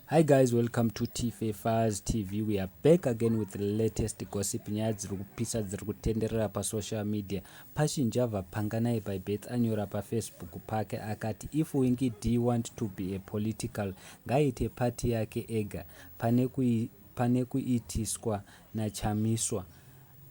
Hi guys, welcome to Tife Faz TV. We are back again with the latest gossip nyaya dziri kupisa dziri kutenderera pasocial media. Pashinja Vapanganai by Beth anyora pafacebook pake akati if Winky D want to be a political ngaaite party yake ega pane kuitiswa naChamiswa.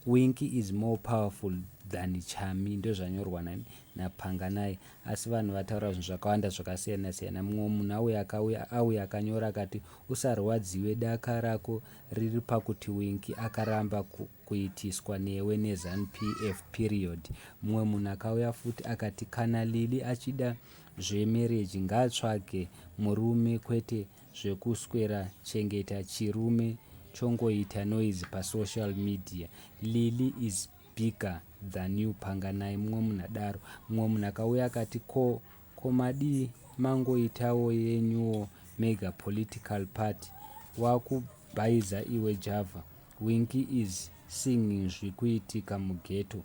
Winky is more powerful than Chami ndozvanyorwa nani naPanganai asi vanhu vataura zvinhu zvakawanda zvakasiyana siyana mumwe munhu auya akauya auya akanyora akati usarwadziwe daka rako riri pakuti Winky akaramba ku, kuitiswa newe neZanu PF period mumwe munhu akauya futi akati kana Lili achida zvemereji ngatsvage murume kwete zvekuswera chengeta chirume chongoita noise pasocial media lily is bigger than you panganai mumwe munhu adaro mumwe munhu akauya akati ko ko madii mangoitawo yenyuwo mega political party wakubhaiza iwe java winki is singing zvikuitika mugeto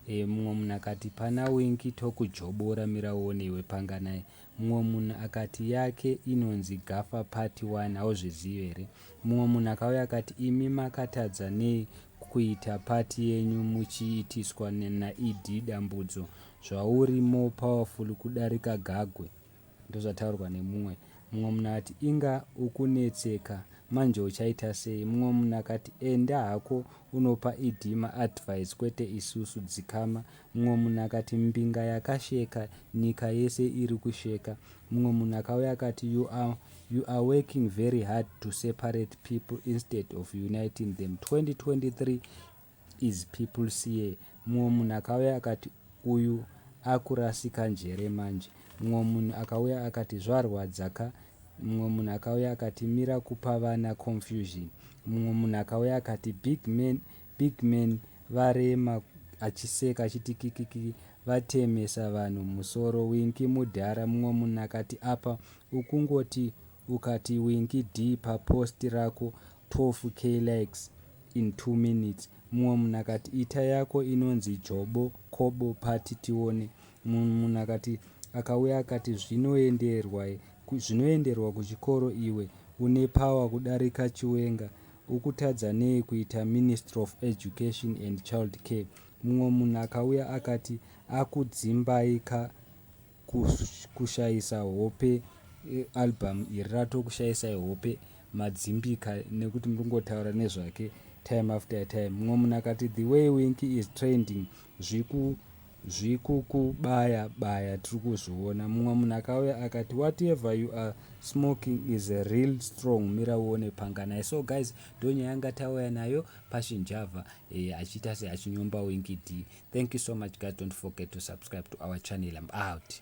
e, mumwe munhu akati pana winki tokujobora mirauone iwe panganai Mumwe munhu akati yake inonzi Gafa Party Wani hauzvizive here? Mumwe munhu akauya akati imi makatadza nei kuita party yenyu muchiitiswa naED dambudzo zvauri more powerful kudarika Gagwe ndozvataurwa nemumwe. Mumwe munhu akati inga ukunetseka manje uchaita sei? Mumwe munhu akati enda hako unopa ED maadvice kwete isusu dzikama Mumwe munhu akati, Mbinga yakasheka, nyika yese iri kusheka. Mumwe munhu akauya akati, You are, you are working very hard to separate people instead of uniting them. 2023 is people's year. Mumwe munhu akauya akati, Uyu akurasika njere manje. Mumwe munhu akauya akati, Zvarwadza ka. Mumwe munhu akauya akati, Mira kupa vana confusion. Mumwe munhu akauya akati, Big man Big man varema achiseka achiti kikikiki vatemesa vanhu musoro winki mudhara mumwe munhu akati apa ukungoti ukati winki d papost rako 12 k likes in 2 minutes mumwe munhu akati ita yako inonzi jobo kobo pati tione mumwe munhu akati akauya akati zvinoenderwa zvinoenderwa kuchikoro iwe une power kudarika chiwenga Ukutadza nei kuita ministry of education and child care mumwe munhu akauya akati akudzimbai ka kushaisa hope eh, album iri ratokushaisai hope madzimbika nekuti muri kungotaura nezvake time after time mumwe munhu akati the way winki is trending zviku zvikukubaya baya tiri kuzviona mumwe munhu akauya akati whatever you are smoking is a real strong mira uone panga naye so guys ndonyaya yanga tauya nayo pashinjava eh, achiita se achinyomba winky d thank you so much guys don't forget to subscribe to our channel im out